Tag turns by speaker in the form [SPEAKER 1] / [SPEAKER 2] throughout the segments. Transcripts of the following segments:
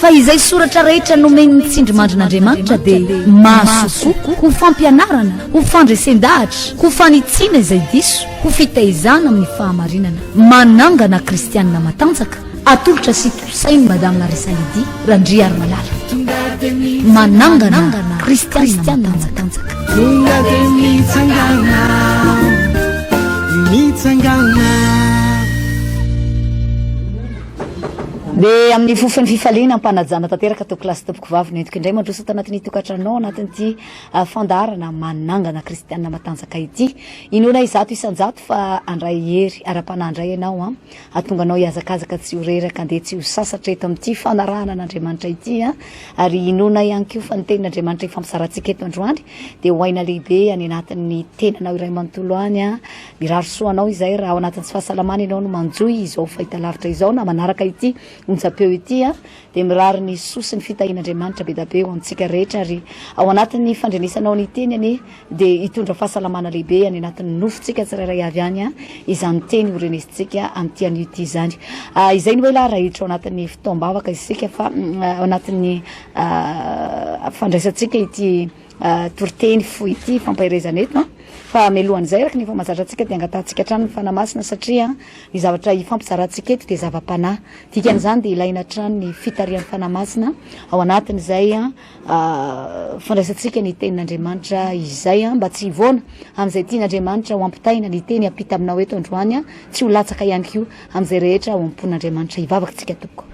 [SPEAKER 1] Fa izay soratra rehetra nomen'ny tsindrimandrin'Andriamanitra dia mahasoa kokoa, ho fampianarana, ho fandresen-dahatra, ho fanitsiana izay diso, ho fitaizana amin'ny fahamarinana. Manangana kristianina matanjaka, atolotra sy tosain'i Madame Larissa Lydie Randriarimalala. Manangana kristianina matanjaka. Tonga dia mitsangana, mitsangana. Dia amin'ny fofon'ny fifaliana am-panajana tanteraka tao kilasy tompokovavy nentiko indray mandroso tao anatin'ny tokantranonao anatin'ity ah, fandaharana manangana kristianina matanjaka ity. Inoana izato isanjato fa andray hery ara-panahy indray ianao an. Ah. Atonganao hihazakazaka tsy ho reraka andeha tsy ho sasatra eto amin'ity fanarahana an'Andriamanitra ity an. Ah. Ary inoana ihany koa fa ny tenin'Andriamanitra ifampizaratsika eto androany dia ho aina lehibe any anatin'ny tenanao iray manontolo any an. Mirary soa anao izay raha ao anatin'ny tsy fahasalamana ianao no manjohy izao fahitalavitra izao na manaraka ity onjam-peo ity a! dia mirary ny soa sy ny fitahian'Andriamanitra bedabe ho antsika rehetra ary ao anatin'ny fandrenesanao ny teny anie dia hitondra fahasalamana lehibe any anatin'ny nofontsika tsirairay avy any a! izany teny horenesintsika amin'ity anio ity izany a! izay no hoe la rahitra ao anatin'ny fotoam-bavaka isika fa ao anatin'ny fandraisantsika ity Toriteny fohy ity fampaherezana eto fa mialohan'izay araka ny efa mahazatra antsika dia angatahantsika hatrany ny Fanahy Masina satria ny zavatra hifampizarantsika eto dia zava-panahy. Dikan'izany dia ilaina hatrany ny fitarihan'ny Fanahy Masina ao anatin'izay fandraisantsika ny tenin'Andriamanitra izay mba tsy hivoana amin'izay tian'Andriamanitra ho ampitaina. Ny teny hampita aminao eto androany tsy ho latsaka ihany koa amin'izay rehetra ao am-pon'Andriamanitra. Hivavaka isika tompoko.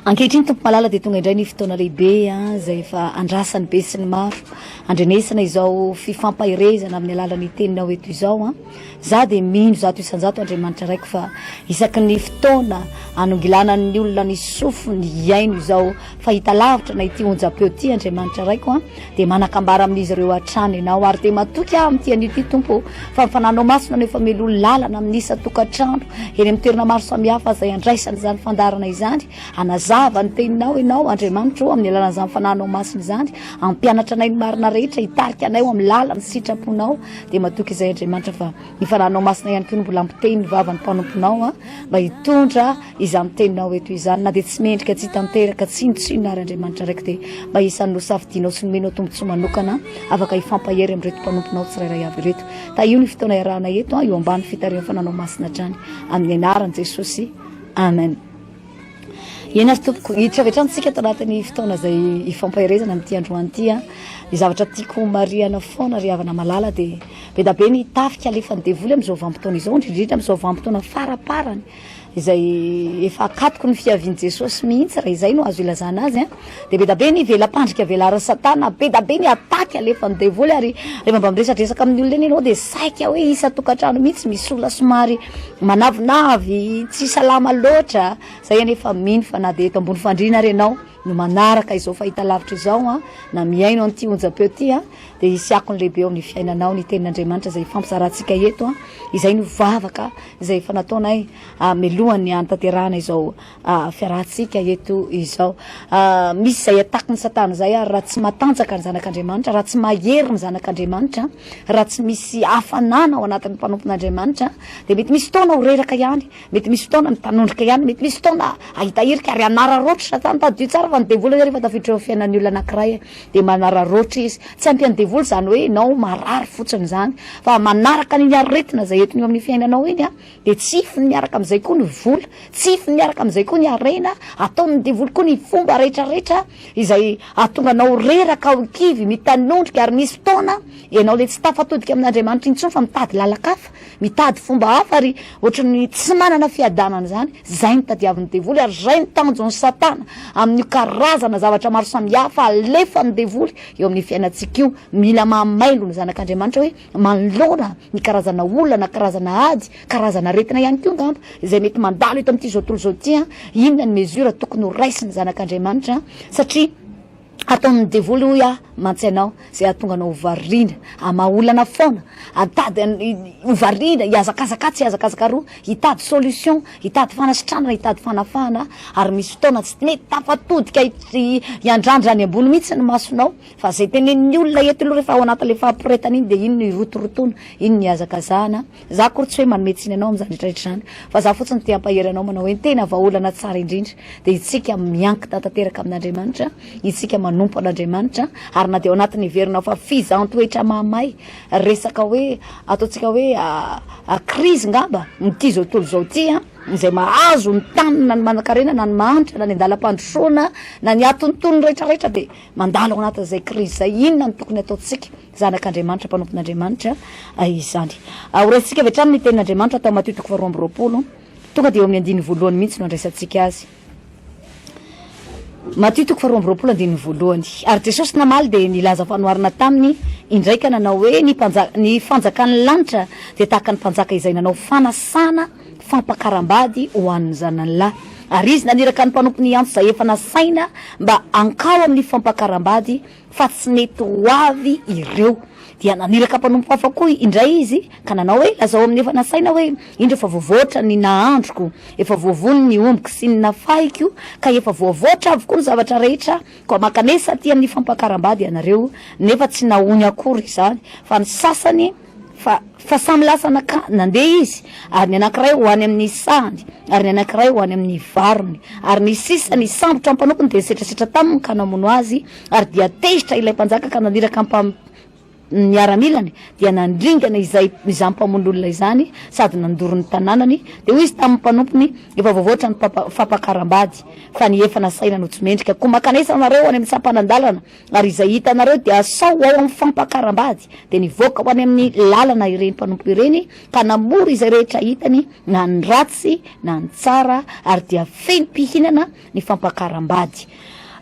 [SPEAKER 1] Ankehitriny Tompo malala dia tonga indray ny fotoana lehibe izay efa andrasan'ny be sy ny maro handrenesana izao fifampaherezana amin'ny alalan'ny teninao eto izao. Za dia mino zato isanjato Andriamanitra raiko fa isaky ny fotoana anongilanan'ny olona ny sofiny hiaino izao fahita lavitra na ity onjam-peo ity Andriamanitra raiko. dia manakambara amin'izy ireo hatrany ianao ary dia matoky aho amin'ity anio ity tompo fa ny fananao masina no efa melo lalana amin'ny isan-tokantrano eny amin'ny toerana maro samihafa izay andraisana izany fandarana izany hanazava ny teninao ianao andriamanitro amin'ny alalan'izany fananao masina izany ampianatra anay ny marina rehetra hitarika anay ho amin'ny lalany sitraponao dia matoky izay andriamanitra fa ny fananao masina ihany koa no mbola ampiteny ny vavan'ny mpanomponao a mba hitondra Izany teninao eto izany, na dia tsy mendrika tsy hitanteraka tsinontsinona ary Andriamanitra araiky, dia mba isan'ny nosafidianao sy nomenao tombontsoa manokana, afaka hifampahery amin'ireto mpanomponao tsirairay avy ireto. Tahio ny fotoana iarahana eto, eo ambany fitarihan'ny Fananao Masina hatrany. Amin'ny Anaran'i Jesosy. Amen. Eny ary tompoko, hiditra avy hatrany tsika ato anatin'ny fotoana izay hifampaherezana amin'ity androany ity a. Ny zavatra tiako homarihana foana ry havana malala dia be dia be ny tafika alefan'ny devoly amin'izao vanim-potoana izao, indrindra indrindra amin'izao vanim-potoana faraparany. izay efa akatoky ny fiavian'i Jesosy mihitsy, raha izay no azo ilazana azy an, dia be da be ny vela-pandrika velarin'i Satana, be da be ny attaque alefan'ny devoly, ary rehefa mba miresadresaka amin'ny olona iny ianao dia saika hoe isan-tokantrano mihitsy misy olona somary manavinavy, tsy salama loatra, izay anie efa mino fa na dia eto ambony fandriana ary ianao no manaraka izao fahitalavitra izao an, na mihaino an'ity onjam-peo ity an, dia hisy akony lehibe eo amin'ny fiainanao ny tenin'Andriamanitra izay ifampizarantsika eto an, izay no vavaka. izay efa nataonay melohan'ny hanatanterahana izao fiarahantsika eto izao. Misy izay ataky ny satana izay ary raha tsy matanjaka ny zanak'Andriamanitra, raha tsy mahery ny zanak'Andriamanitra, raha tsy misy hafanana ao anatin'ny mpanompon'Andriamanitra, dia mety misy fotoana ho reraka ihany, mety misy fotoana mitanondrika ihany, mety misy fotoana ahita hirika ary hanararaotra satana. Tadidio tsara fa ny devoly anie rehefa tafiditra eo amin'ny fiainan'ny olona anankiray, Dia manararaotra izy. Tsy ampy an'ny devoly izany hoe ianao marary fotsiny izany, fa manaraka an'iny aretina izay entiny eo amin'ny fiainanao iny, dia tsifiny miaraka amin'izay koa ny vola, tsifiny miaraka amin'izay koa ny harena, ataon'ny devoly koa ny fomba rehetrarehetra izay hahatonga anao reraka ao kivy, mitanondrika, ary misy fotoana ianao ilay tsy tafatodika amin'Andriamanitra intsony fa mitady lalan-kafa, Mitady fomba hafa ry ohatran'ny tsy manana fiadanana izany, izay no tadiavin'ny devoly ary izay no tanjon'i satana amin'io karazana zavatra maro samihafa alefan'ny devoly eo amin'ny fiainantsika io, mila mahamailo ny zanak'Andriamanitra hoe manoloana ny karazana olana, karazana ady, karazana aretina ihany koa angamba izay mety mandalo eto amin'ity zao tontolo izao ity an, inona ny mesure tokony ho raisin'ny zanak'Andriamanitra satria Ataon'ny devoly hoy aho mantsy anao izay hahatonga anao ho variana hamaha olana foana, hatady ho variana, hihazakazaka atsy hihazakazaka aroa, hitady solution, hitady fanasitranana, hitady fanafahana ary misy fotoana tsy mety tafatodika hiandrandra any ambony mihitsy ny masonao fa izay tenenin'ny olona eto aloha rehefa ao anatin'ilay fahamporetana iny dia iny no hirotorotoana, iny no hihazakazahana Za akory tsy hoe manome tsiny anao amin'izany rehetra rehetra izany fa za fotsiny te hampahery anao manao hoe ny tena vahaolana tsara indrindra dia itsika miankina tanteraka amin'Andriamanitra, itsika manompo an'Andriamanitra ary na dia ao anatin'ny heverinao fa fizaham-toetra mahamay, resaka hoe ataontsika hoe crise ngamba amin'ity zao tontolo izao ity an, izay mahazo ny tany na ny manankarena na ny mahantra na ny an-dalam-pandrosoana na ny atontono rehetra rehetra dia mandalo ao anatin'izay crise izay, inona no tokony ataontsika? Zanak'Andriamanitra, mpanompon'Andriamanitra izany. Ho raisintsika avy hatrany ny tenin'Andriamanitra tao Matio toko faharoa amby roapolo, tonga dia eo amin'ny andininy voalohany mihitsy no andraisantsika azy. Matio toko faharoa amby roapolo andininy voalohany. Ary Jesosy namaly dia nilaza fanoharana taminy indray ka nanao hoe, Ny mpanja, ny fanjakan'ny lanitra dia tahaka ny mpanjaka izay nanao fanasana fampakaram-bady ho an'ny zanany lahy. Ary izy naniraka ny mpanompony hiantso izay efa nasaina mba hankao amin'ny fampakaram-bady fa tsy nety ho avy ireo. Dia naniraka mpanompo hafa koa indray izy, ka nanao hoe, Lazao amin'ny efa nasaina hoe, Indro efa voavoatra ny nahandroko, efa voavono ny ombiko sy ny nafahiko, ka efa voavoatra avokoa ny zavatra rehetra, koa mankanesa aty amin'ny fampakaram-bady ianareo, nefa tsy nahoany akory izany, fa ny sasany, Fa, fa samy lasa nankany, nandeha izy, ary ny anankiray ho any amin'ny sahany, ary ny anankiray ho any amin'ny varony. Ary ny sisa, ny sambotra mpanompo-ny dia nisetrasetra taminy ka namono azy, ary dia tezitra ilay mpanjaka ka naniraka ny mpam-, ny miaramilany, dia nandringana izay, izany mpamono olona izany, sady nandoro ny tanànany, dia hoy izy tamin'ny mpanompony, Efa voavoatra ny papa, fampakaram-bady, fa ny efa nasaina no tsy mendrika, koa mankanesa anareo any amin'ny sampanan-dalana, Ary izay hitanareo dia asao ho ao amin'ny fampakaram-bady, dia nivoaka ho any amin'ny lalana ireny mpanompo ireny, ka namory izay rehetra hitany, na ny ratsy na ny tsara, ary dia feno mpihinana ny fampakaram-bady.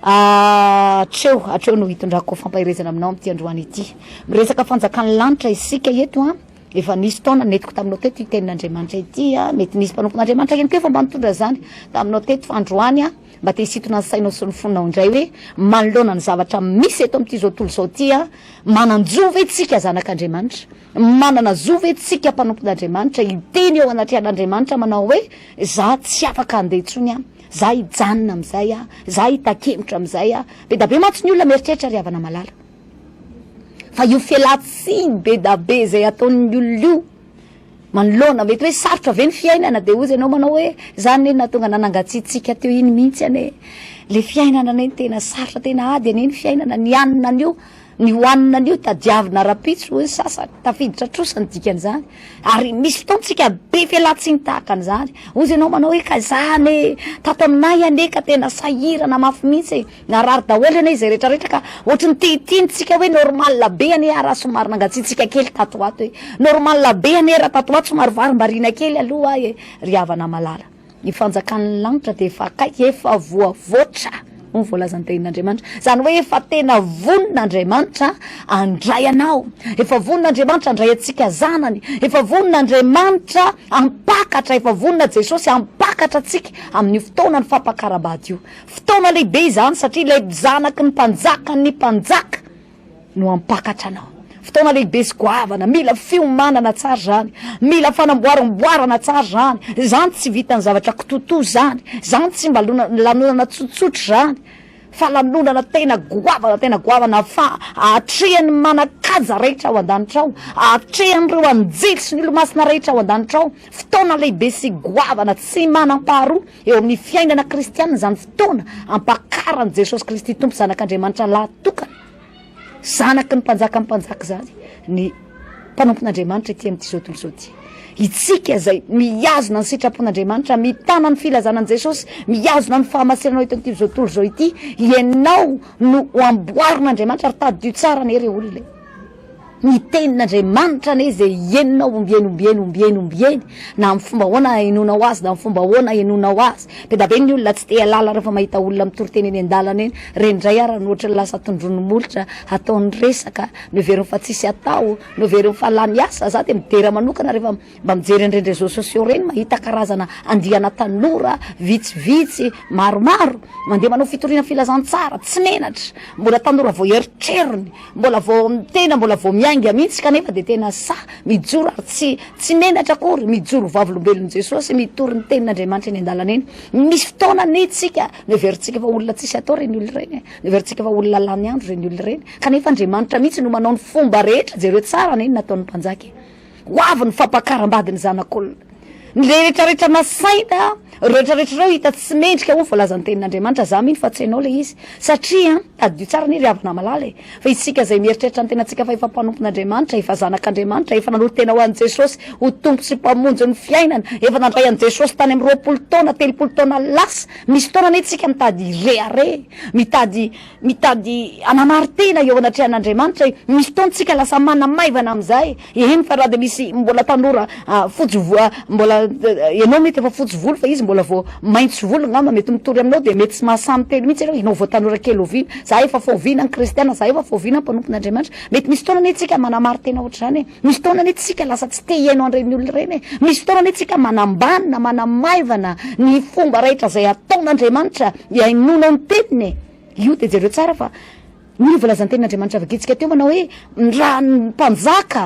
[SPEAKER 1] Hatreo, hatreo no hitondrako fampaherezana aminao amin'ity androany ity. Miresaka fanjakan'ny lanitra isika eto an. Efa nisy taona nentiko taminao teto ity tenin'Andriamanitra ity an. Mety nisy mpanompon'Andriamanitra ihany koa efa mba nitondra izany taminao teto, fa androany an, Mba te hisintona ny sainao sy ny fonao indray hoe manoloana ny zavatra misy eto amin'ity izao tontolo izao ity aho, manan-jo ve tsika zanak'Andriamanitra? Manana zo ve tsika mpanompon'Andriamanitra hiteny eo anatrehan'Andriamanitra manao hoe za tsy afaka handeha intsony aho, za hijanona amin'izay aho, za hitakemotra amin'izay aho? Bedabe mantsy ny olona mieritreritra ry havana malala fa io fialantsiny bedabe izay ataon'ny olona io, manoloana mety hoe sarotra ve ny fiainana dia hozy ianao manao hoe izany anie no nahatonga anà nangatsiatsiaka teo iny mihitsy anie le fiainana anie no tena sarotra tena ady anie ny fiainana ny hanina anio ny hohanina anio tadiavina ara-pitso hoy ny sasany tafiditra trosa ny dikan'izany ary misy fotoantsika be fialantsiny tahaka an'izany hozy ianao manao hoe ka izany e tato aminay anie ka tena sahirana mafy mihitsy e Narary daholo anie izay rehetra rehetra ka ohatry ny te hiteny tsika hoe normal be anie ah raha somary nangatsiatsiaka kely tato ho ato e! Normal be anie raha tato ho ato somary varimbariana kely aloha ah e! Ry havana malala! Ny fanjakan'ny lanitra dia efa akaiky, efa voavoatra hoy ny voalazan'ny Tenin'Andriamanitra. Izany hoe efa tena vonona Andriamanitra handray anao, efa vonona Andriamanitra handray antsika zanany, efa vonona Andriamanitra hampakatra, efa vonona Jesosy hampakatra antsika amin'io fotoanan'ny fampakaram-bady io. Fotoana lehibe izany satria ilay zanaky ny mpanjakan' ny mpanjaka no hampakatra anao. Fotoana lehibe sy goavana, mila fiomanana tsara izany, mila fanamboaramboarana tsara izany, izany tsy vitan'ny zavatra kitotoa izany, izany tsy mba lanonana tsotsotra izany fa lanonana tena goavana tena goavana fa ahatrehan'ny manan-kaja rehetra ao an-danitra ao, ahatrehan'ireo anjely sy ny olomasina rehetra ao an-danitra ao, fotoana lehibe sy goavana tsy manam-paharoa. Eo amin'ny fiainana kristianina izany fotoana ampakaran'i Jesosy Kristy Tompo Zanak'Andriamanitra lahatokana, Zanaky ny Mpanjakan'ny mpanjaka izany ny mpanompon'Andriamanitra ety amin'ity tontolo izao ity. Itsika izay mihazona ny sitrapon'Andriamanitra, mitana ny filazana an'i Jesosy, mihazona ny fahamasinanao eto amin'ity tontolo izao ity, ianao no ho amboarin'Andriamanitra ary tadidio tsara anie re olona e! Ny tenin'Andriamanitra anie izay henonao ombieny ombieny ombieny ombieny na amin'ny fomba ahoana ahenoanao azy na amin'ny fomba ahoana ahenoanao azy. Be da be ny olona tsy te hialala rehefa mahita olona mitory teny eny an-dalana eny, reny indray ara ny ohatry ny lasa tondroin'ny molotra, ataony resaka, no heveriny fa tsisy atao, no heveriny fa lany asa, za dia midera manokana rehefa Mba mijery an'ireny réseaux sociaux ireny mahita karazana andiana tanora vitsivitsy maromaro mandeha manao fitoriana filazantsara tsy menatra, mbola tanora vao eritrerony, mbola vao, tena mbola vao miainga mihitsy kanefa dia tena sahy mijoro ary tsy tsy menatra akory mijoro ho vavolombelon'i Jesosy mitory ny tenin'Andriamanitra eny an-dalana eny. Misy fotoana anie isika noheverintsika fa olona tsisy atao ireny olona ireny e! Noheverintsika fa olona lany andro ireny olona ireny kanefa Andriamanitra mihitsy no manao ny fomba rehetra jereo tsara anie ny nataon'ny mpanjaka e! Ho avy ny fampakaram-bady ny zanak'olona. Ny rehetrarehetra nasaina, reo rehetrarehetra reo hita tsy mendrika hoy ny voalazan'ny tenin'Andriamanitra, za mino fa tsy hainao le izy. Satria, tadidio tsara anie ry havana malala e, fa isika izay mieritreritra ny tenantsika fa efa mpanompon'Andriamanitra, efa zanak'Andriamanitra, efa nanolo-tena ho an'i Jesosy ho Tompo sy Mpamonjy ny fiainana, efa nandray an'i Jesosy tany amin'ny roapolo taona, telopolo taona lasa, misy fotoana anie tsika mitady hirehareha, mitady. Mitady hanamari-tena eo anatrehan'Andriamanitra e. Misy fotoana tsika lasa manamaivana amin'izay, eny fa raha dia misy mbola tanora fotsy vo-, mbola ianao mety efa fotsy volo fa izy mbola vao maitso volo angamba mety mitory aminao dia mety tsy mahasahy miteny mihitsy ianao, ianao vao tanora kely oviana, za efa foviana ny kristiana, za efa foviana ny mpanompon'Andriamanitra, mety misy fotoana anie tsika manamari-tena ohatr'izany e. Misy fotoana anie tsika lasa tsy te hihaino an'ireny olona ireny e! Misy fotoana anie tsika manambany na manamaivana ny fomba rahetra izay ataon'Andriamanitra hihainoana ny teniny e! Io dia jereo tsara fa ny volazan-tenin'Andriamanitra vakintsika teo manao hoe raha ny mpanjaka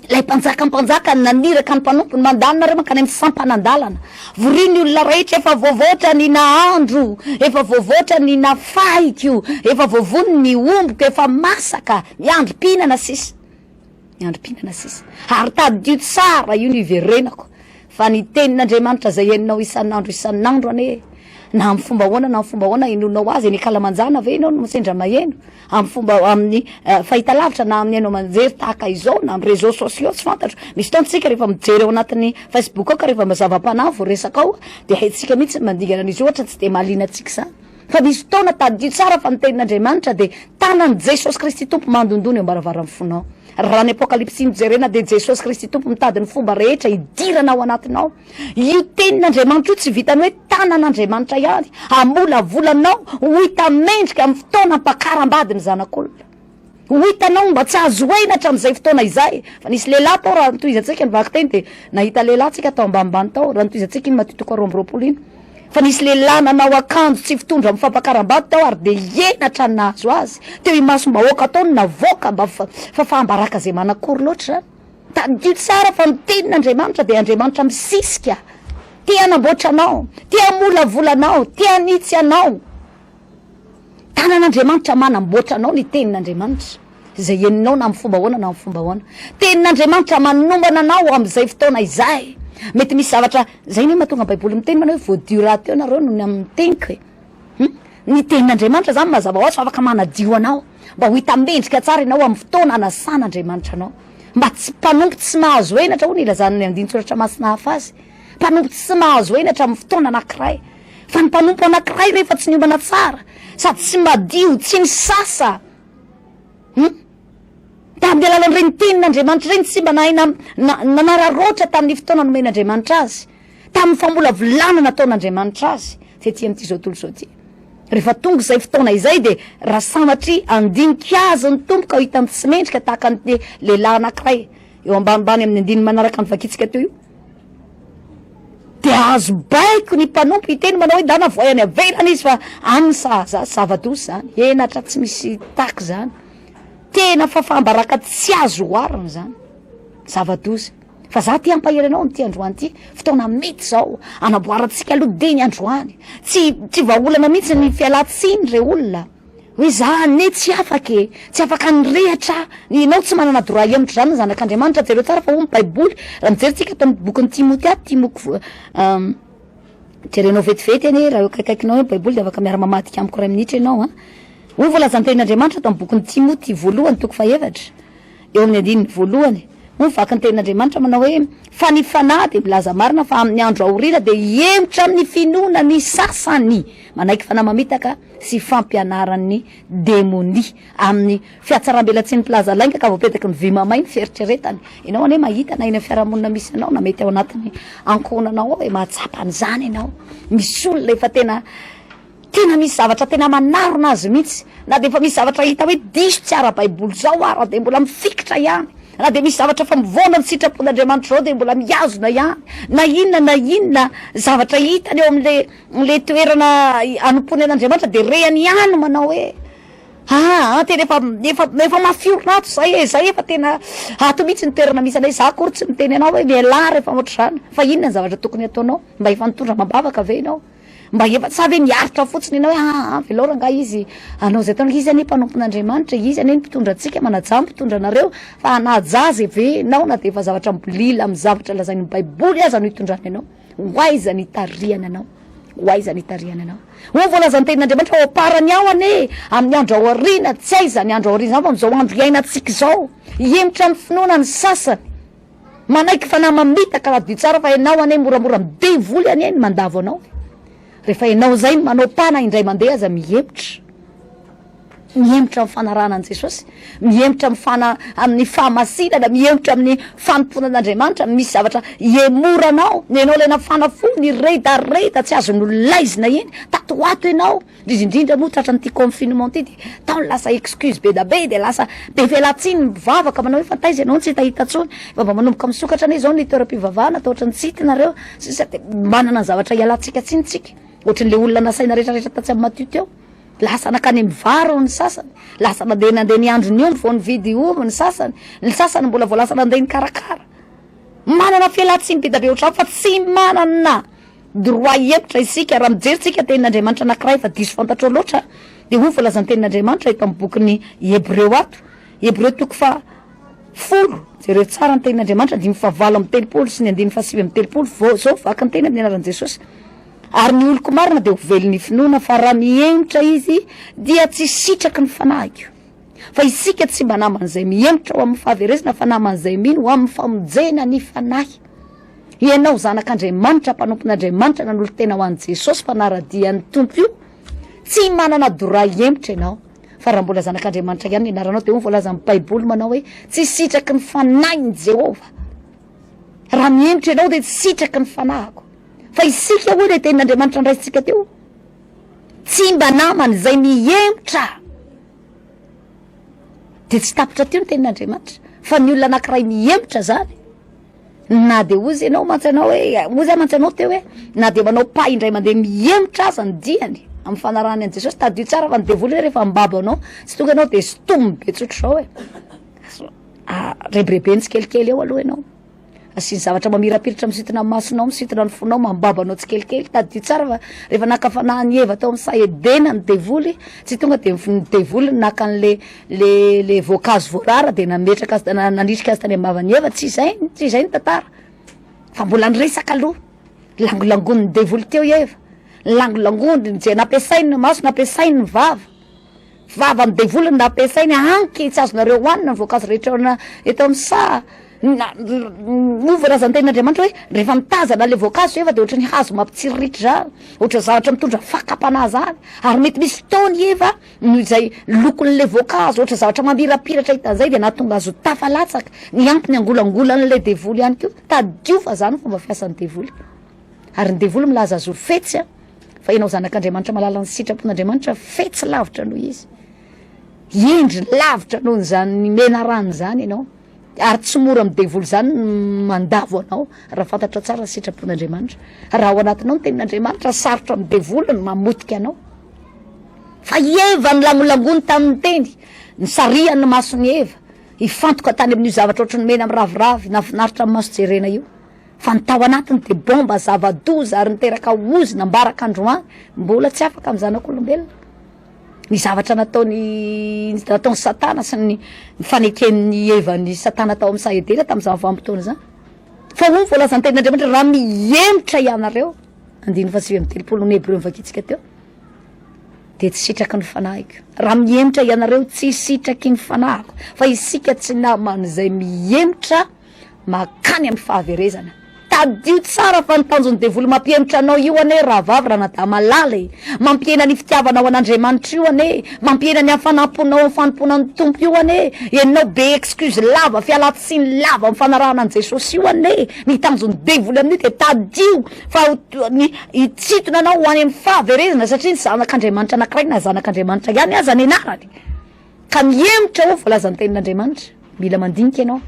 [SPEAKER 1] ilay mpanjaka mpanjaka naniraka ny mpanompony mandalo nareo mankany amin'ny sampanan-dalana Vorio ny olona rehetra efa voavoatra ny nahandro efa voavoatra ny nafahiko efa voavono ny ombiko efa masaka miandry mpihinana sisa miandry mpihinana sisa ary tadidio tsara io no iverenako fa ny tenin'Andriamanitra izay henonao isan'andro isan'andro anie na amin'ny fomba ahoana na amin'ny fomba ahoana henonao azy eny an-kalamanjana ve ianao no sendra maheno amin'ny fomba amin'ny fahitalavitra na amin'ny haino aman-jery tahaka izao na amin'ny réseaux sociaux tsy fantatro misy fotoana tsika rehefa mijery ao anatin'ny facebook ao ka rehefa mazava-panahy vao resaka ao dia haintsika mihitsy ny mandingana an'izy io ohatra tsy dia mahaliana antsika izany fa misy fotoana tadidio tsara fa ny tenin'Andriamanitra dia tanan'i Jesosy Kristy Tompo mandondona eo am-baravaran'ny fonao raha ny apokalypsy no jerena dia Jesosy Kristy Tompo mitady ny fomba rehetra hidirana ao anatinao Io tenin'Andriamanitra io tsy vitan'ny hoe tanan'Andriamanitra ihany hamolavola anao ho hita mendrika amin'ny fotoana ampakaram-bady ny zanak'olona. Ho hitanao mba tsy azo henatra hatramin'izay fotoana izay. Fa nisy lehilahy tao raha nitohizantsika ny vakiteny dia nahita lehilahy tsika tao ambanimbany tao raha nitohizantsika iny Matthieu toko roa amby roapolo iny. Fa nisy lehilahy nanao akanjo tsy fitondra amin'ny fampakaram-bady tao ary dia henatra ny nahazo azy. Teo imasom-bahoaka tao ny navoaka mba fa fa faham-baraka izay manakory loatra izany. Tadidio tsara fa ny tenin'Andriamanitra dia Andriamanitra misisika, te hanamboatra anao, te hamolavola anao, te hanitsy anao. Tanan'Andriamanitra manamboatra anao ny tenin'Andriamanitra izay henonao na amin'ny fomba ahoana na amin'ny fomba ahoana. Tenin'Andriamanitra manombana anao amin'izay fotoana izay. Mety misy zavatra, izay ny mahatonga Baiboly miteny manao hoe voadio rahateo nareo noho ny amin'ny teniko e. Hmm? Ny tenin'Andriamanitra izany mazava ho azy fa afaka manadio anao mba ho hita mendrika tsara ianao amin'ny fotoana anasan'Andriamanitra anao. mba tsy mpanompo tsy mahazo henatra hoy ny ilazan'ny andinin-tsoratra masina hafa azy, mpanompo tsy mahazo henatra amin'ny fotoana anankiray, fa ny mpanompo anankiray rehefa tsy niomana tsara sady tsy madio tsy nisasa hum tamin'ny alalan'ireny tenin'Andriamanitra ireny tsy mba nahay na- na- nanararaotra tamin'ny fotoana nomen'Andriamanitra azy tamin'ny famolavolana nataon'Andriamanitra azy tety amin'ity zao tontolo zao ity. Rehefa tonga izay fotoana izay dia raha sanatria handinika azy ny Tompo ka hitany tsy mendrika tahaka ny lehilahy anankiray eo ambanimbany amin'ny andininy manaraka ny vakintsika teo io dia azo baiko ny mpanompo hiteny manao hoe dana voay any avelany izy fa an'ny sahaza zava-doza zany henatra tsy misy taka zany tena fafambaraka tsy azo oharina zany zava-doza Fa za te hampahery anao amin'ity androany ity, fotoana mety zao hanamboarantsika aloha dia ny androany. Tsy tsy vahaolana mihitsy ny fialan-tsiny re olona. Hoe za anie tsy afaka e, tsy afaka nirehatra aho. Ianao tsy manana droit hihemotra izany ny zanak'Andriamanitra, jereo tsara fa hoy ny baiboly, raha mijery tsika ato amin'ny bokin'i Timotea, Timoko jerenao vetivety anie raha eo akaikaikinao eo ny baiboly dia afaka miara-mamadika amiko iray minitra ianao an. Hoy voalazan'ny tenin'Andriamanitra ato amin'ny bokin'i Timoty voalohany toko fahefatra, Eo amin'ny andininy voalohany moa ny vaky ny tenin'Andriamanitra manao hoe, Fa ny fanahy dia milaza marina fa amin'ny andro aorina dia hihemotra amin'ny finoana ny sasany manaiky fanahy mamitaka sy fampianaran'ny demonia. Amin'ny fiatsarambelatsihin'ny mpilaza lainga ka voapetaky ny vy mamay ny fieritreretany. Ianao anie mahita na eny amin'ny fiarahamonina misy anao na mety ao anatin'ny ankohonanao ao e, mahatsapa an'izany ianao. Misy olona efa tena. Tena misy zavatra tena manarona azy mihitsy, na dia efa misy zavatra hita hoe diso tsy ara-baiboly izao ara dia mbola mifikitra ihany, na dia misy zavatra efa mivaona ny sitrapon'Andriamanitra izao dia mbola mihazona ihany na inona na inona zavatra hitany eo amin'ilay ilay toerana hanompoany an'Andriamanitra dia rehany ihany manao hoe aa tena efa efa efa mafiorina ato izay e, izay efa tena ato mihitsy ny toerana misy anay, za akory tsy miteny anao hoe mialà rehefa ohatr'izany fa inona ny zavatra tokony hataonao, mba efa nitondra amam-bavaka ve ianao? Mba efa sa ve miaritra fotsiny ianao hoe aa velao rangahy izy hanao izay ataony, izy anie mpanompon'Andriamanitra e, izy anie ny mpitondra antsika, manajà ny mpitondra anareo fa hanaja azy ve ianao na dia efa zavatra mibolila amin'ny zavatra lazain'ny baiboly aza no hitondrany anao? Ho aiza ny hitarihany anao? Ho aiza ny hitarihany anao? Hoy voalazan'ny tenin'Andriamanitra ao am-parany ao anie amin'ny andro ao aoriana, tsy hay izany andro ao aoriana izany fa amin'izao andro iainantsika izao, hihemotra amin'ny finoana ny sasany. Manaiky fanahy mamitaka raha vy tsara fa enao anie moramora am devoly anie ny mandavo anao e! refa enao zay no manao pas na indray mandeha aza mihemotra, mihemotra am fanarahana an Jesosy, mihemotra am fana aminy fahamasinana, mihemotra aminy fanompoana an Andriamanitra, misy zavatra ihemoranao, enao le nafana fo niredareda tsy azony nolaizina iny, tato ho ato enao, Indrindra indrindra moa tratra an'ity confinement ity dia tao ny lasa excuse be da be dia lasa be felatsiny ny mpivavaka manao hoe fa taiza ianao no tsy hitahita tsony fa mba manomboka misokatra anie izao ny toeram-pivavahana atao ohatran'ny tsy hita nareo sisa dia manana ny zavatra hialantsika tsiny tsika ohatry le olona nasaina retraretra tatsy amin'ny maty teo lasa nakany amin'ny vary hono ny sasany lasa nandeha nandeha ny andro ny omby vao nividy ovy ny sasany ny sasany mbola vao lasa nandeha nikarakara manana felatsiny be da be ohatran'ny fa tsy manana Droit hihevitra isika, raha mijery tsika tenin'Andriamanitra anankiray fa diso fantatrao loatra, dia hoy voalazan'ny tenin'Andriamanitra eto amin'ny bokin'ny Hebreo ato, Hebreo toko faha folo, jereo tsara ny tenin'Andriamanitra, andininy faha valo amby telopolo sy ny andininy faha sivy amby telopolo, vao zao vaky ny teny amin'ny anaran'i Jesosy, ary ny oloko marina dia ho velon'ny finoana, fa raha mihemotra izy dia tsy sitraky ny fanahiko. fa isika tsy mba naman'izay mihemotra ho amin'ny fahaverezana fa naman'izay mino ho amin'ny famonjena ny fanahy ianao zanak'andriamanitra mpanompon'andriamanitra nanolo tena ho an'i jesosy fa naradian'ny tompo io tsy manana doray hemotra ianao fa raha mbola zanak'andriamanitra ihany ny anaranao dia ho voalazan'ny baiboly manao hoe tsy sitraky ny fanahin'i jehovah raha mihemotra ianao dia tsy sitraky ny fanahiko fa isika hoy ilay tenin'andriamanitra andraisintsika teo Tsy mba namana izay mihemotra dia tsy tapitra teo ny tenin'Andriamanitra fa ny olona anankiray mihemotra izany na dia ozy ianao mantsy anao hoe ozy aho mantsy anao teo hoe na dia manao pas indray mandeha mihemotra aza ny diany amin'ny fanarahany an'i Jesosy tadidio tsara fa ny devoly hoe rehefa mibabo anao tsy tonga ianao dia stomy be tsotra izao hoe rebirebeny tsikelikely eo aloha ianao Asiany zavatra mamirapiratra misintona ny masonao, misintona ny fonao, mambaba anao tsikelikely. Tadidio tsara fa rehefa naka fanahin'i Eva tao amin'ny saha Edena ny devoly, tsy tonga dia ny devoly naka an'le le le voankazo voarara dia nametraka azy nandrisika azy tany am-bavan'i Eva, tsy izay tsy izay ny tantara fa mbola niresaka aloha, langolangonin'ny devoly teo i Eva, ny langolangoniny, izay nampiasainy ny maso, nampiasainy ny vava. Vava amin'ny devoly no nampiasainy hanky tsy azonareo hohanina ny voankazo rehetra ao na eto amin'ny saha na moa voalazan'tenin'Andriamanitra hoe rehefa mitazana ilay voankazo sy efa dia ohatran'ny hazo mampitsiriritra izany ohatran'ny zavatra mitondra fakam-panahy izany ary mety misy fotoana i Eva noho izay lokon'ilay voankazo ohatran'ny zavatra mamirapiratra hita an'izay dia nahatonga azy ho tafalatsaka ny antony angolangolan'ilay devoly ihany koa tadidio fa izany fomba fiasan'ny devoly Ary ny devoly milaza azy ho fetsy a, fa ianao zanak'Andriamanitra malala ny sitrapon'Andriamanitra fetsy lavitra noho izy. Hendry lavitra noho izany menarana izany ianao. Ary tsy mora amin'ny devoly izany mandavo anao raha fantatra tsara ny sitrapon'Andriamanitra. Raha ao anatinao ny tenin'Andriamanitra, sarotra amin'ny devoly ny mamotika anao. Fa i Eva nilangolangony tamin'ny teny, nisarihany ny mason'i Eva, hifantoka tany amin'io zavatra ohatry ny mena miraviravy, nahafinaritra amin'ny maso jerena io. fa ny tao anatiny dia bomba zava-doza ary niteraka ozona ambaraka androany, mbola tsy afaka amin'ny zanak'olombelona ny zavatra nataony nataon'i Satana sy ny faneken'ny hevan'i Satana tao amin'ny saha Edena tamin'izany vanim-potoana izany. Fa hoy ny voalazan'ny tenin'Andriamanitra, raha mihemotra ianareo, andininy fahasivy amby telopolo ny Hebreo novakintsika teo, dia tsy sitraky ny fanahiko. Raha mihemotra ianareo, tsy sitraky ny fanahiko. Fa isika tsy naman'izay mihemotra makany amin'ny fahaverezana. Tadidio tsara fa ny tanjon'ny devoly mampihemotra anao io anie rahavavy Ranadahy malala e! Mampihena ny fitiavanao an'Andriamanitra io anie, mampihena ny hafanam-ponao amin'ny fanompoana ny Tompo io anie, enao be excuse lava, fialan-tsiny lava amin'ny fanarahana an'i Jesosy io anie, ny tanjon'ny devoly amin'io dia tadidio fa ny hitsitona anao ho any amin'ny fahaverezana satria ny zanak'Andriamanitra anankiray na zanak'Andriamanitra ihany aza ny anarany. Ka mihemotra hoy ny voalazan'ny Tenin'Andriamanitra. Mila mandinika ianao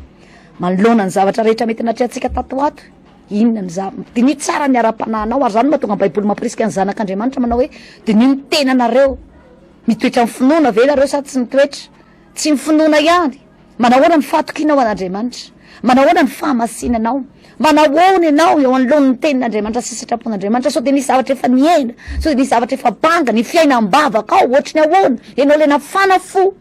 [SPEAKER 1] manoloana ny zavatra rehetra mety natrehantsika tato ho ato. Inona ny za-, diniho tsara ny ara-panahinao, ary izany no mahatonga ny Baiboly mampirisika ny zanak'Andriamanitra manao hoe, Diniho ny tenanareo. Mitoetra amin'ny finoana ve ianareo sa tsy mitoetra? Tsy ny finoana ihany. Manahoana ny fahatokianao an'Andriamanitra? Manahoana ny fahamasinanao? Manahoana ianao eo anoloan' ny tenin'Andriamanitra sy sitrapon'Andriamanitra? Sao dia misy zavatra efa niaina? Sao dia misy zavatra efa banga? Ny fiainam-bavaka ao ohatry ny ahoana? Ianao ilay nafana fo,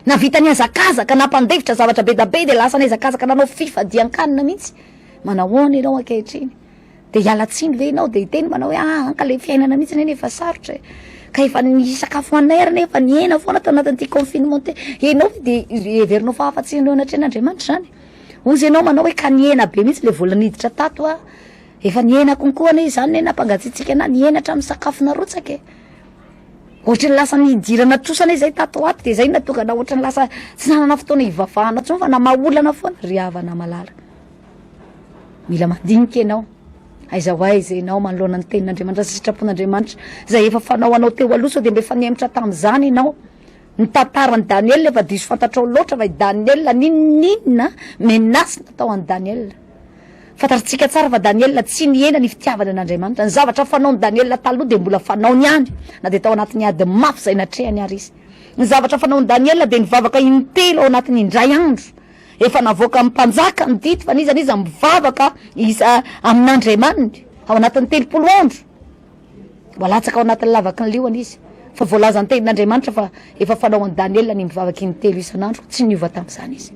[SPEAKER 1] navita nihazakazaka, nampandefitra zavatra be da be dia lasa nihazakazaka nanao fifadian-kanina mihitsy. Manahoana ianao ankehitriny? Dia hiala tsiny ve ianao dia hiteny manao hoe ah an ka ilay fiainana mihitsy anie efa sarotra e, ka efa ny sakafo hoaninay ary anie efa nihena foana tao anatin'ity confinement ity, ianao ve dia heverinao fa afa-tsy ireo anatrehan'Andriamanitra izany? Hozy ianao manao hoe ka nihena be mihitsy ilay vola niditra tato an, efa nihena konkoa anie izany anie nampangatsiatsiaka anah, nihena hatramin'ny sakafo narotsaka e, ohatran'ny lasa nidirana trosa anie izay tato ho ato dia izay no nahatonga anah ohatran'ny lasa tsy nanana fotoana hivavahana intsony fa namaha olana foana ry havana malala. Mila mandinika ianao, aiza ho aiza ianao manoloana ny tenin'Andriamanitra sy sitrapon'Andriamanitra izay efa fanao anao teo aloha sao dia mba efa nihemotra tamin'izany ianao. Ny tantaran'i Daniela efa diso fantatrao loatra fa i Daniela n'inon'inona menace natao an'i Daniela. Fantatritsika tsara fa Daniela tsy nihena ny fitiavany an'Andriamanitra, ny zavatra fanaon'i Daniela taloha dia mbola fanaony ihany na dia tao anatin'ny ady mafy izay natrehany ary izy. Ny zavatra fanaon'i Daniela dia nivavaka intelo ao anatin'ny indray andro, Efa navoakan'ny mpanjaka ny didy fa n'iza n'iza mivavaka iza amin'Andriamaniny ao anatin'ny telopolo andro mba latsaka ao anatin'ny lavaky ny liona izy fa voalazan'ny tenin'Andriamanitra fa efa fanao an'i Daniela ny mivavaka in-telo isan'andro tsy niova tamin'izany izy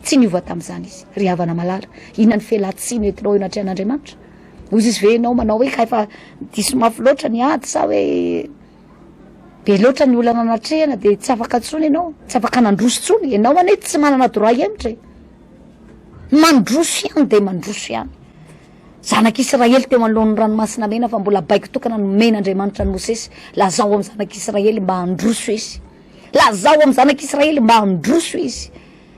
[SPEAKER 1] tsy niova tamin'izany izy ry havana malala inona ny fialantsiny entinao eo anatrehan'Andriamanitra hoy izy ve ianao manao hoe ka efa diso mafy loatra ny ady sa hoe be loatra ny olana natrehana de tsy afaka tsony ianao, tsy afaka nandroso tsony, ianao anie tsy manana droit hihemotra e, mandroso ihany de mandroso ihany, zanak'Israely teo anoloan'ny ranomasina mena fa mbola baiko tokana nomen'Andriamanitra an'i Mosesy, lazao amin'ny zanak'Israely mba handroso izy, lazao amin'ny zanak'Israely mba handroso izy,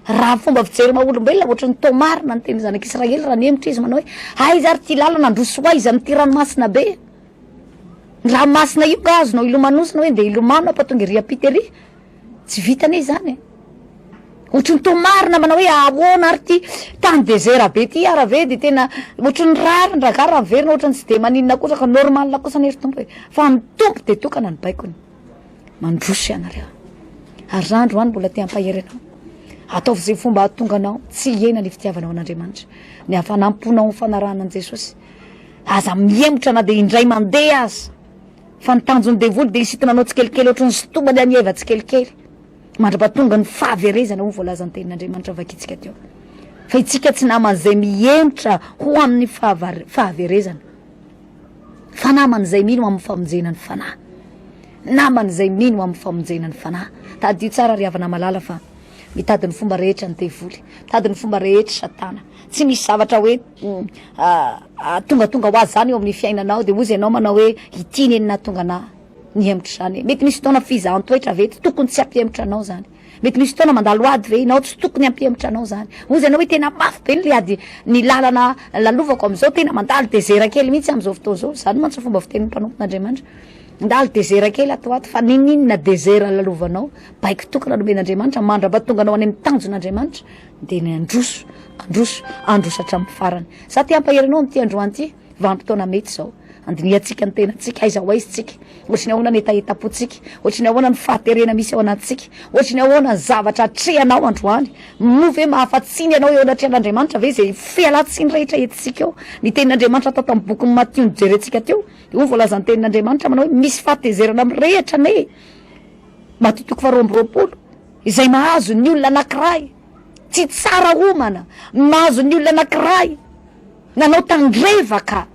[SPEAKER 1] raha fomba fijery maha olombelona ohatry ny tao marina ny tenin'ny zanak'Israely raha nihemotra izy manao hoe aiza ary ty lalana handroso ho aiza amin'ity ranomasina be. Raha masina io nga azonao ilomanosina hoe ndeha hilomano aho fa tonga ery ampita ery? Tsy vita anie izany e! Ohatry ny toa marina manao hoe ahoana ary ty tany desert be ty ary ve de tena ohatry ny rarin-draharaha raha miverina ohatry ny tsy de maninona kosa ka normal kosa anie ry Tompo e! Fa ny Tompo de tokana ny baikony. Mandroso ianareo ary zah androany mbola te hampahery anao ataovy ze fomba ahatonga anao tsy hihena ny fitiavanao an'Andriamanitra, ny hafanam-ponao amin'ny fanarahana an'i Jesosy. Aza mihemotra na dia indray mandeha aza, fa ny tanjon'ny devoly dia hisitina anao tsikelikely ohatry ny sitomany an'i Eva tsikelikely, mandrapa tonga ny fahaverezana hoy ny voalazan'ny tenin'Andriamanitra vakintsika teo. Fa itsika tsy naman'izay mihemotra ho amin'ny fahaverezana, fa naman'izay mino amin'ny famonjena ny fanahy. Naman'izay mino amin'ny famonjena ny fanahy. Tadidio tsara ry havana malala fa mitady ny fomba rehetra ny devoly, mitady ny fomba rehetra satana. Tsy misy zavatra hoe tongatonga ho azy zany eo amin'ny fiainanao de ozy ianao manao hoe ity ne ny nahatonga anah nihemotra izany, mety misy fotoana fizahan-toetra ve tokony tsy hampihemotra anao zany, mety misy fotoana mandalo ady ve ianao tsy tokony hampihemotra anao zany, ozy ianao hoe tena mafy be ny ady ny lalana lalovako amizao tena mandalo dezera kely mihitsy amizao fotoana zao, zany mantsy fomba fitenin'ny mpanompon'Andriamanitra, mandalo dezera kely ato ato fa ninoninona dezera lalovanao, baiko tokana nomen'Andriamanitra mandrapatonga anao any amin'ny tanjon'Andriamanitra, Dia ny handroso, handroso, handroso hatramin'ny farany. Izaho te hampahery anao amin'ity androany ity, vanim-potoana mety izao. Handinihantsika ny tenantsika, aiza ho aiza isika, ohatry ny ahoana ny hetahetam-pontsika, ohatry ny ahoana ny fahaterena misy ao anatintsika, ohatry ny ahoana ny zavatra atrehanao androany. Moa ve mahafa-tsy ny anao eo anatrehan'Andriamanitra ve izay fialan-tsiny rehetra entintsika eo? Ny tenin'Andriamanitra atao tamin'ny bokin'i Matio nojerentsika teo, io voalazan'ny tenin'Andriamanitra manao hoe, misy fahatezerana amin'ny rehitra anie. Matio toko faharoa amby roapolo. Izay mahazo ny olona anankiray tsy tsara homana, mahazo ny olona anankiray nanao tandrevaka,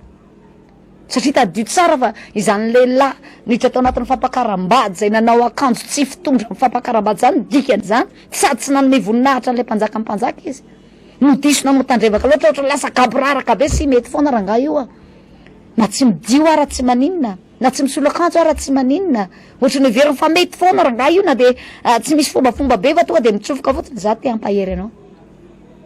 [SPEAKER 1] satria tadidio tsara fa izany lehilahy niditra tao anatin'ny fampakaram-bady izay nanao akanjo tsy fitondra amin'ny fampakaram-bady izany ny dikan'izany, sady tsy nanome voninahitra an'ilay mpanjaka mpanjaka izy no diso nanao tandrevaka loatra, ohatra lasa gaboraraka be, tsy mety foana rangahy io a! na tsy midio ara tsy maninona. Na tsy misolo akanjo ara tsy maninona otrany heveriny fa mety foana rangahy io na de tsy misy fombafomba be fa tonga de mitsofoka fotsiny za te hampahery anao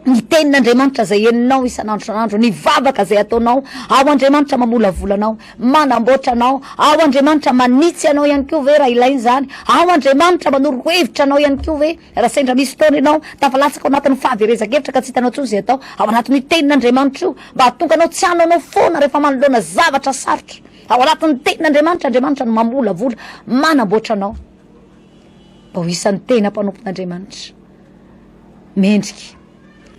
[SPEAKER 1] ny tenin'Andriamanitra zay henonao isan'andro isan'andro ny vavaka zay ataonao ao Andriamanitra mamolavola anao manamboatra anao ao Andriamanitra manitsy anao ihany koa ve raha ilaina izany ao Andriamanitra manoro hevitra anao ihany koa ve raha sendra misy fotoana ianao tafalatsaka ao anatin'ny fahaverezan-kevitra ka tsy hitanao intsony izay atao ao anatin'io tenin'Andriamanitra io mba hahatonga anao tsy hanao anao foana rehefa manoloana zavatra sarotra Ao anatin'ny tenin'Andriamanitra, Andriamanitra no mamolavola, manamboatra anao mba ho isan'ny tena mpanompon'Andriamanitra. Mendrika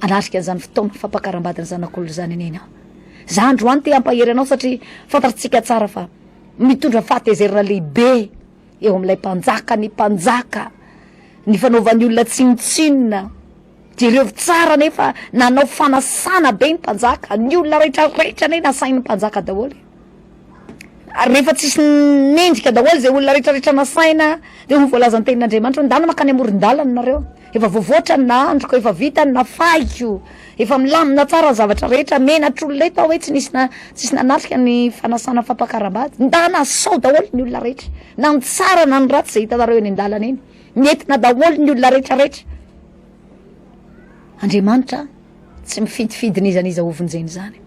[SPEAKER 1] hanatrika an'izany fotoana fampakaram-badin'ny zanak'olona izany anie ianao. Za androany te hampahery anao satria fantatsika tsara fa mitondra fahatezerana lehibe eo amin'ilay mpanjaka ny mpanjaka, ny fanaovan'ny olona tsinontsinona. Jereo tsara anie fa nanao fanasana be ny mpanjaka, ny olona rehetra rehetra anie nasain'ny mpanjaka daholo e! ary rehefa tsisy mendrika daholo zay olona rehetra rehetra nasaina de ho voalazan'ny tenin'Andriamanitra hoe ndana makany amoron-dalana nareo efa voavoatra ny nahandroko efa vita ny nafahiko efa milamina tsara ny zavatra rehetra menatr'olona eto aho hoe tsy nisy na- tsy nisy nanatrika ny fanasana fampakaram-bady ndana sao daholo ny olona rehetra na ny tsara na ny ratsy zay hitanareo eny an-dalana eny Ny entina daholo ny olona rehetra rehetra. Andriamanitra tsy mifidifidy n'iza n'iza ho vonjeny zany.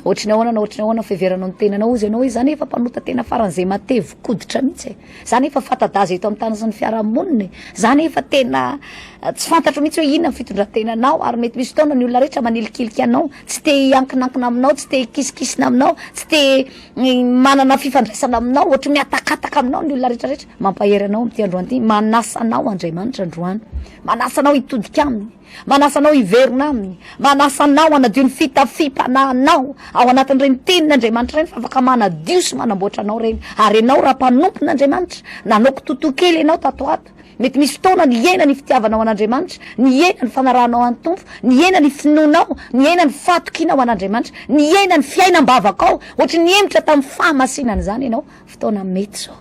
[SPEAKER 1] Na ohatry ny ahoana na ohatry ny ahoana fiheveranao ny tenanao ozy ianao hoe za nefa mpanota tena faran'izay matevo koditra mihitsy e. Za nefa fatadaza eto amin'ny tany sy ny fiarahamonina e. Za nefa tena eh, tsy fantatro mihitsy hoe inona ny fitondrantenanao ary mety misy fotoana ny olona rehetra manilikilika anao, tsy te hiankinankina aminao, tsy te hikisikisina aminao, tsy te manana fifandraisana aminao, ohatry ny mihatakataka aminao ny olona rehetra rehetra, mampahery anao amin'ity androany ity, manasa anao Andriamanitra androany, manasa anao hitodika aminy, manasa anao hiverina aminy, manasa anao hanadio ny fitafiam-panahinao ao anatin'ireny teniny Andriamanitra ireny fa afaka manadio sy manamboatra anao ireny, ary ianao raha mpanompon'Andriamanitra, nanao kitotoa kely ianao tato ho ato, Mety misy fotoana nihena ny fitiavanao an'Andriamanitra, nihena ny fanarahanao an'ny Tompo, nihena ny finoanao, nihena ny fahatokianao an'Andriamanitra, nihena ny fiainam-bavakao, ohatry ny hemotra tamin'ny fahamasinana izany ianao, fotoana mety izao.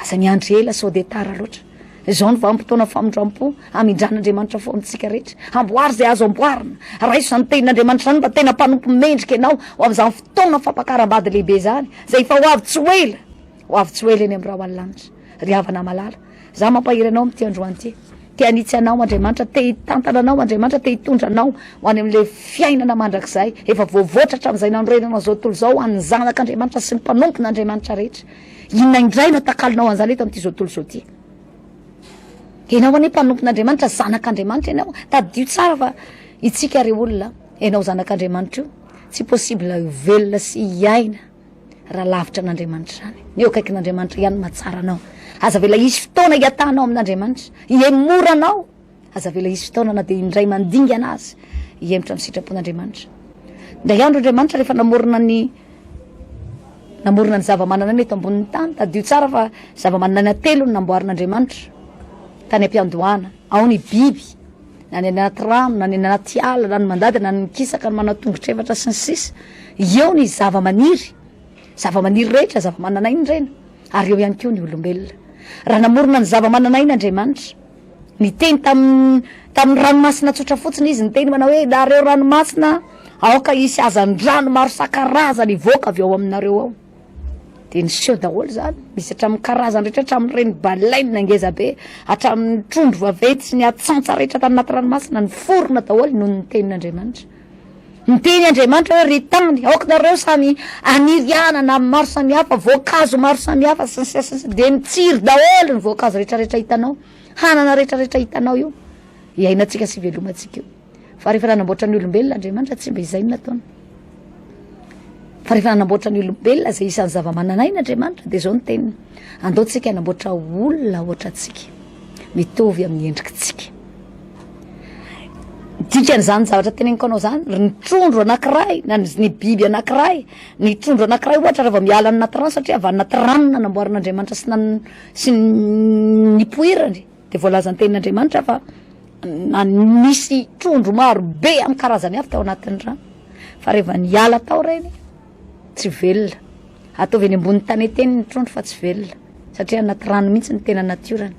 [SPEAKER 1] Aza miandry ela sao dia tara loatra. Izao ny vanim-potoana famindram-po, hamindran'Andriamanitra foana antsika rehetra. Amboary izay azo amboarina, raiso izany tenin'Andriamanitra izany mba tena mpanompo mendrika ianao ho amin'izany fotoana fampakaram-bady lehibe izany, izay efa ho avy tsy ho ela. Ho avy tsy ho ela eny amin'ny rahona lanitra. Ry havana malala, Izaho mampahery anao amin'ity androany ity. Te hanitsy anao Andriamanitra, te hitantana anao Andriamanitra, te hitondra anao ho any amin'ilay fiainana mandrakizay efa voavoatra hatramin'izay nanorenana an'izao tontolo izao ho an'ny zanak'Andriamanitra sy ny mpanompon'Andriamanitra rehetra. Inona indray no atakalonao an'izany eto amin'ity izao tontolo izao ity? Ianao anie mpanompon'Andriamanitra, zanak'Andriamanitra ianao. Tadidio tsara fa itsika ry olona, ianao zanak'Andriamanitra io, tsy possible ho velona sy hiaina. Raha lavitra an'Andriamanitra izany, ny eo akaikin'Andriamanitra ihany no mahatsara anao. Aza avela hisy fotoana hiatahanao amin'Andriamanitra, hihemory anao. Aza avela hisy fotoana na dia indray mandingana aza, hihemotra amin'ny sitrapon'Andriamanitra. Indray andro Andriamanitra rehefa namorona ny namorona ny zava-manan'aina eto ambonin'ny tany, tadidio tsara fa zava-manan'aina telo no namboarin'Andriamanitra tany am-piandohana. Ao ny biby, na ny anaty rano, na ny anaty ala, na ny mandady, na ny mikisaka, ny manao tongotra efatra sy ny sisa Eo ny zavamaniry, zavamaniry rehetra, zavamananaina ireny, ary eo ihany koa ny olombelona. Raha namorona ny zavamananaina Andriamanitra, niteny tamin'ny tamin'ny ranomasina tsotra fotsiny Izy, niteny manao hoe, Nareo ranomasina, aoka hisy hazandrano maro isan-karazany hivoaka avy ao aminareo ao. Dia niseho daholo izany, misy hatramin'ny karazany rehetra, hatramin'ireny baleine ngeza be, hatramin'ny trondro vaventy sy ny atsantsa rehetra tany anaty ranomasina, niforona daholo noho ny tenin'Andriamanitra. Niteny Andriamanitra hoe, Ry tany, aokinareo samy haniry anana maro samihafa, voankazo maro samihafa, sy ny sisa sy ny sisa, dia nitsiry daholo ny voankazo rehetrarehetra hitanao, hanana rehetrarehetra hitanao io, iainantsika sy ivelomantsika io. Fa rehefa nanamboatra ny olombelona Andriamanitra, tsy mba izay no nataony. Fa rehefa nanamboatra ny olombelona izay isan'ny zava-manan'aina Andriamanitra, dia izao ny teniny. Andaontsika hanamboatra olona ohatra antsika, mitovy amin'ny endrikitsika. Dikan'izany zavatra teneniko anao izany, ry ny trondro anankiray, na ny biby anankiray, ny trondro anankiray ohatra raha vao miala ny anaty rano satria avy any anaty rano no nanamboaran'Andriamanitra sy nipoirany. Dia voalazan'ny tenin'Andriamanitra fa nisy trondro maro be amin'ny karazany avy tao anatin'ny rano, fa rehefa niala tao ireny, tsy velona. Ataovy eny ambony taneteny ny trondro fa tsy velona, satria anaty rano mihitsy ny tena natiorany.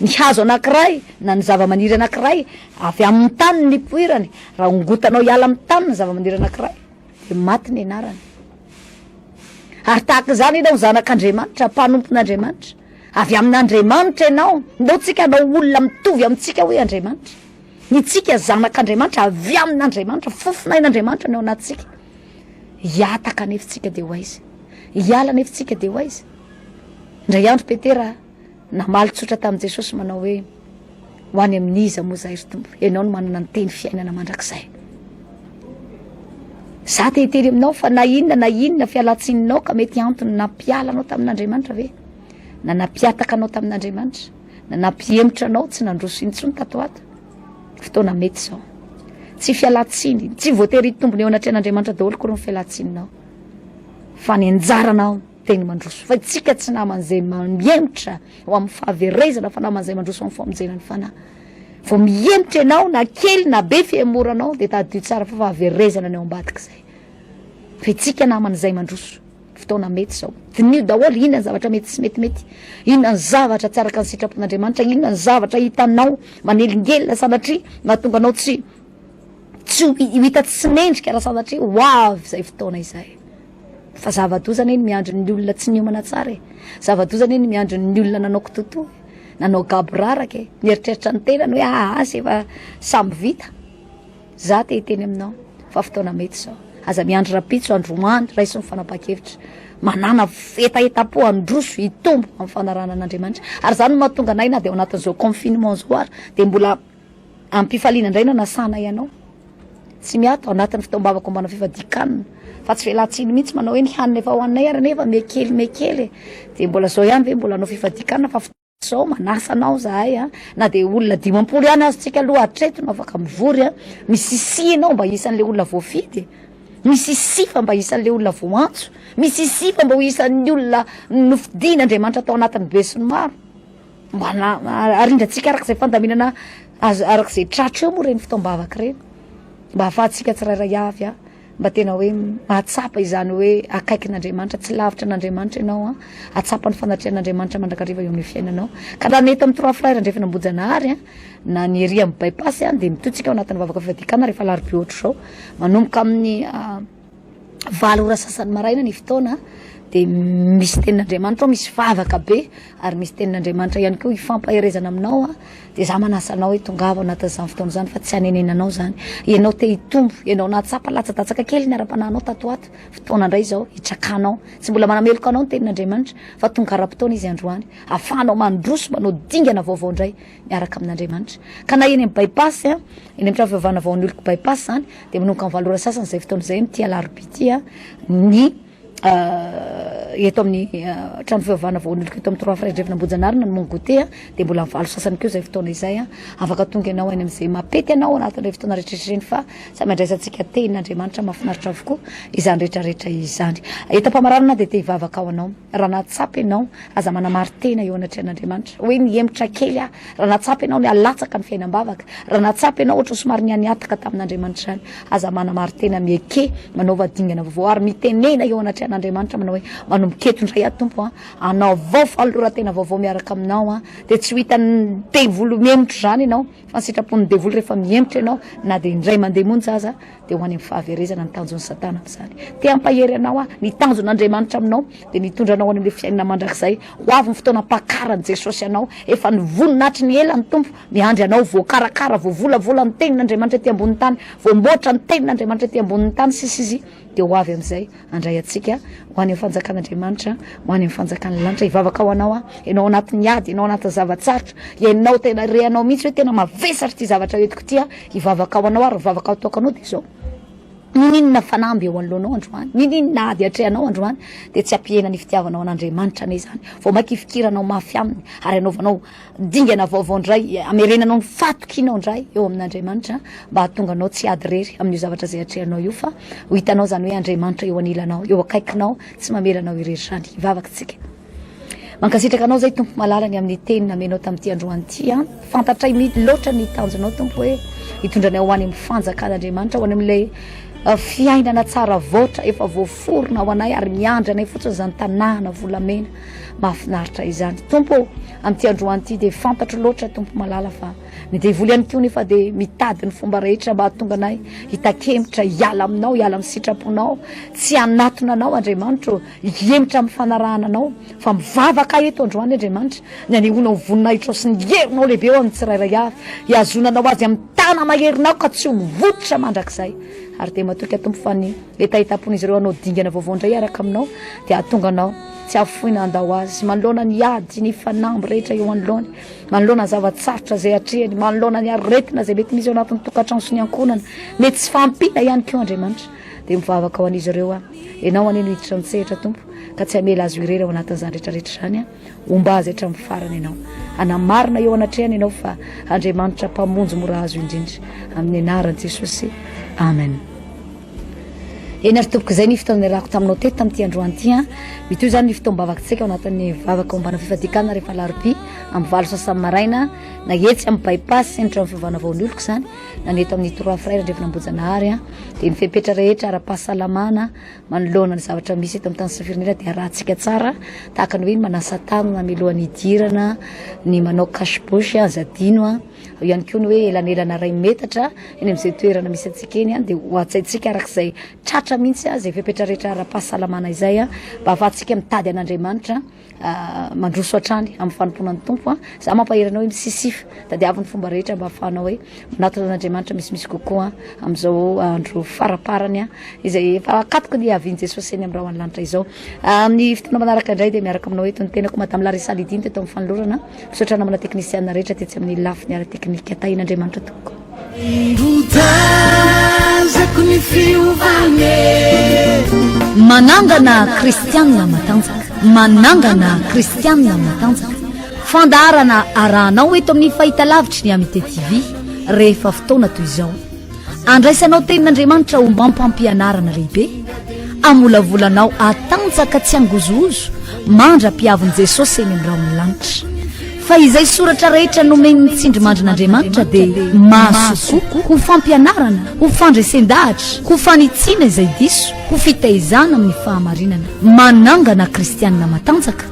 [SPEAKER 1] Ny hazo anankiray na ny zavamaniry anankiray avy amin'ny tany ny poirany, raha ongotanao hiala amin'ny tany ny zavamaniry anankiray, dia maty ny anarany. Ary tahaka izany ianao zanak'Andriamanitra, mpanompon'Andriamanitra, Avy amin'Andriamanitra ianao, ndao tsika hanao olona mitovy amintsika hoe Andriamanitra. Ny tsika zanak'Andriamanitra avy amin'Andriamanitra, fofonain'Andriamanitra ny ao anatintsika. Hiataka anefa tsika dia ho aiza? Hiala anefa tsika dia ho aiza? Indray andro Petera namaly tsotra tamin'i Jesosy manao hoe Ho any amin'iza moa izay ry Tompo? Ianao no manana ny teny fiainana mandrakizay. Za te hiteny aminao fa na inona na inona fialantsininao ka mety antony nampiala anao tamin'Andriamanitra ve? Na nampiataka anao tamin'Andriamanitra? Na nampihemotra anao tsy nandroso intsony tato ato? Fotoana mety izao. Tsy fialantsiny, tsy voatery hitombona eo anatrehan'Andriamanitra daholo kory ny fialantsininao. Fa ny anjaranao Teny mandroso fa isika tsy namany izay mihemotra ho amin'ny fahaverezana fa namany izay mandroso amin'ny famonjena ny fanahy. Vao mihemotra ianao na kely na be fihemoranao dia tadidio tsara fa fahaverezana ny ao ambadika izay. Fa isika namany izay mandroso fotoana mety izao. Diniho daholo inona ny zavatra mety sy metimety, inona ny zavatra tsy araka ny sitrapon'Andriamanitra, inona ny zavatra hitanao manelingelina sanatria mahatonga anao tsy tsy ho hita tsy mendrika raha sanatria ho avy izay fotoana izay. Fa zava-doza anie ny miandry ny olona tsy niomana tsara e! Zava-doza anie ny miandry ny olona nanao kitotoa e! Nanao gaboraraka e! Nieritreritra ny tenany hoe aa aza efa samy vita. Za te hiteny aminao fa fotoana mety zao. Aza miandry rapitso androany raiso ny fanapahan-kevitra. Manàna hetahetam-po handroso hitombo amin'ny fanarahana an'Andriamanitra. Ary zany no mahatonga anay na dia ao anatin'izao confinement zao ary dia mbola Amim-pifaliana indray no anasanay anao. Tsy miato ao anatin'ny fitaom-bavako homba anao fifadian-kanina, fa tsy velan-tsiny mihitsy manao hoe ny hanina efa hohaninay ary anefa mihekely mihekely e! Dia mbola izao ihany ve mbola hanao fifadian-kanina fa fotoana izao manasa anao izahay a! Na dia olona dimampolo ihany aza isika aloha hatreto no afaka mivory a! Misisihy ianao mba isan'ilay olona voafidy e! Misisihy fa mba isan'ilay olona voantso! Misisihy fa mba ho isan'ny olona nofidin'Andriamanitra tao anatin'ny besinimaro! Mba na arindratsika araka izay fandaminana azo araka izay tratra eo moa ireny fotoam-bavaka ireny mba ahafahantsika tsirairay avy a mba tena hoe mahatsapa izany hoe akaikin'Andriamanitra tsy lavitra an'Andriamanitra ianao a atsapa ny fanatrehan'Andriamanitra mandrakariva eo amin'ny fiainanao ka raha nety amin'ny trois frères andrefana ambojanahary a na ny ery amin'ny bypass a dia mitotsika ao anatin'ny vavaka fivadikana rehefa alarobia ohatr'izao manomboka amin'ny valo ora sasany maraina ny fotoana dia misy tenin'Andriamanitra ao, misy vavaka be ary misy tenin'Andriamanitra ihany koa hifampaherezana aminao aho dia za manasa anao hoe tongava anatin'izany fotoana izany fa tsy hanenenanao izany, ianao te hitombo, ianao nahatsapa latsa-datsaka kely ny ara-panahinao tato ho ato, fotoana indray izao hitrakanao, tsy mbola manameloka anao ny tenin'Andriamanitra fa tonga ara-potoana izy androany, afahanao mandroso manao dingana vaovao indray miaraka amin'Andriamanitra. Ka na eny amin'ny bypass, eny amin'ny trano fivavahana vao hanoloko bypass izany, dia manomboka amin'ny valo ora sasany izay fotoana izay amin'ity alarobia ity ny eto amin'ny trano fivavahana vao hanoloko eto amin'ny Trois Frères Andrefana Ambohijanarina ny mon goûter, dia mbola amin'ny valo sasany koa izay fotoana izay. Afaka tonga ianao any amin'izay maha-pety anao anatin'ireny fotoana rehetrarehetra ireny fa samy andraisantsika tenin'Andriamanitra mahafinaritra avokoa izany rehetrarehetra izany. Entam-pamaranana dia te-hivavaka ho anao. Raha nahatsapa ianao, Aza manamari-tena eo anatrehan'Andriamanitra hoe nihemotra kely aho. Raha nahatsapa ianao ny halatsaka ny fiainam-bavaka, raha nahatsapa ianao ohatran'ny somary nihanihataka tamin'Andriamanitra izany, aza manamari-tena, mieke, manaova dingana vaovao ary mitenena eo anatrehan'Andriamanitra manao hoe, Manomboka eto indray aho Tompo an, anaovao fanoloran-tena vaovao miaraka aminao an, dia tsy ho hitan'ny devoly mihemotra izany ianao, fa ny sitrapon'ny devoly rehefa mihemotra ianao na dia indray mandeha monja aza dia ho any amin'ny fahaverezana ny tanjon'i Satana amin'izany. Te hampahery anao aho, ny tanjon'Andriamanitra aminao dia ny hitondra anao any amin'ny fiainana mandrakizay. Ho avy ny fotoana hampakaran'i Jesosy anao, efa nivonona hatry ny ela ny Tompo miandry anao. Voakarakara, voavolavola ny tenin'Andriamanitra ety ambonin'ny tany, voamboatra ny tenin'Andriamanitra ety ambonin'ny tany, sy, sy, sy, dia ho avy amin'izay. Handray antsika ho any amin'ny fanjakan'Andriamanitra, ho any amin'ny fanjakan'ny lanitra. Hivavaka ho anao aho, ianao anatin'ny ady, ianao anatin'ny zava-tsarotra, ianao tena rehanao mihitsy hoe tena mavesatra ity zavatra entiko ity, hivavaka ho anao ary ny vavaka ataoko anao dia izao, Niniana fanamby eo anoloanao androany, niniana ady atrehanao androany, dia tsy hampihena ny fitiavanao an'Andriamanitra anie izany, vao mainka hifikiranao mafy aminy ary hanaovanao Dingana vaovao indray, hamerenanao ny fahatokianao indray eo amin'Andriamanitra mba hahatonga anao tsy hiady irery amin'io zavatra izay atrehanao io fa ho hitanao izany hoe Andriamanitra eo anilanao, eo akaikinao, tsy mamela anao irery izany. Hivavaka isika. Mankasitraka anao izay Tompo malala ny amin'ny teny namenao tamin'ity androany ity an. Fantatray mihitsy loatra ny tanjonao Tompo hoe hitondra anay ho any amin'ny fanjakan'Andriamanitra, ho any amin'ilay uh, fiainana tsara vaotra efa voaforona ho anay ary miandry anay fotsiny izany tanàna volamena Mahafinaritra izany Tompo ô! Amin'ity androany ity dia fantatro loatra Tompo malala fa ny devoly ihany koa nefa dia mitady ny fomba rehetra mba hahatonga anay hitakemotra hiala aminao, hiala amin'ny sitraponao, tsy hanatona anao Andriamanitro, hihemotra amin'ny fanarahana anao fa mivavaka eto androany Andriamanitra ny hanehoanao ny voninahitrao sy ny herinao lehibe eo amin'ny tsirairay avy, hihazonana ho azy amin'ny tana maherinao ka tsy ho mivototra mandrakizay ary dia matoky Tompo fa ny hetahetam-pon'izy ireo hanao dingana vaovao indray hiaraka aminao dia hahatonga anao Tsy afoina handao azy manoloana ny ady, ny fanamby rehetra eo anoloany, manoloana ny zava-tsarotra izay atrehany, manoloana ny aretina izay mety misy ao anatin'ny tokantrano sy ny ankohonana, mety tsy fahampiana ihany koa Andriamanitra. Dia mivavaka ho an'izy ireo aho. Ianao anie no hiditra amin'ny sehatra Tompo, ka tsy hamela azy ho irery ao anatin'izany rehetrarehetra izany aho. Homba azy hatramin'ny farany Ianao. Hanamarina eo anatrehany Ianao fa Andriamanitra Mpamonjy mora azo indrindra. Amin'ny anaran'i Jesosy. Amen. Eny ary tompoko izay ny fotoana niarahako taminao teto tamin'ity androany ity an! Mitohy izany ny fotoam-bavaka tsika ao anatin'ny vavaka ombana fifadikanana rehefa alarobia amin'ny valo sasany maraina na etsy amin'ny By-pass sy ny trano fivavahana vao nioloko izany na ny eto amin'ny Trois Frères Andrefan'Ambohijanahary an! dia ny fepetra rehetra ara-pahasalamana manoloana ny zavatra misy eto amin'ny tany sy ny firenena dia arahantsika tsara tahaka ny hoe ny manasa tanana mialohan'ny hidirana, ny manao cache bouche aza adino an! Eo ihany koa ny hoe elanelana iray metatra eny amin'izay toerana misy antsika eny dia ho hajaintsika araka izay tratra mihitsy izay fepetra rehetra ara-pahasalamana izay mba hahafahantsika mitady an'Andriamanitra mandroso hatrany amin'ny fanompoana ny Tompo. Za mampahery anao hoe misisify, tadiavo ny fomba rehetra mba hahafahanao hoe manatona an'Andriamanitra misimisy kokoa amin'izao andro faramparany izay efa akatoky ny havian'i Jesosy eny amin'ny rahona lanitra izao. Amin'ny fotoana manaraka indray dia miaraka aminao eto ny tenako Madame Larissa Lydine teto amin'ny fanolorana. Misaotra namana teknisiana rehetra tetsy amin'ny lafiny ara-teknika. Tahian'Andriamanitra tompoko. Notazako ny fiovane. Manangana kristianina matanjaka. Manangana kristianina matanjaka. Fandaharana arahanao eto amin'ny fahitalavitry ny Amitié TV rehefa fotoana toy izao. Andraisanao tenin'Andriamanitra ho mampampianarana lehibe. Amolavolanao atanjaka tsy angozohozo mandra-piavin'i Jesosy eny amin'ny rahon'ny lanitra. Fa izay soratra rehetra nomen'ny tsindrimandrin'Andriamanitra dia mahasoa ho fampianarana, ho fandresen-dahatra, ho fanitsiana izay diso, ho fitaizana amin'ny fahamarinana. Manangana kristiana matanjaka.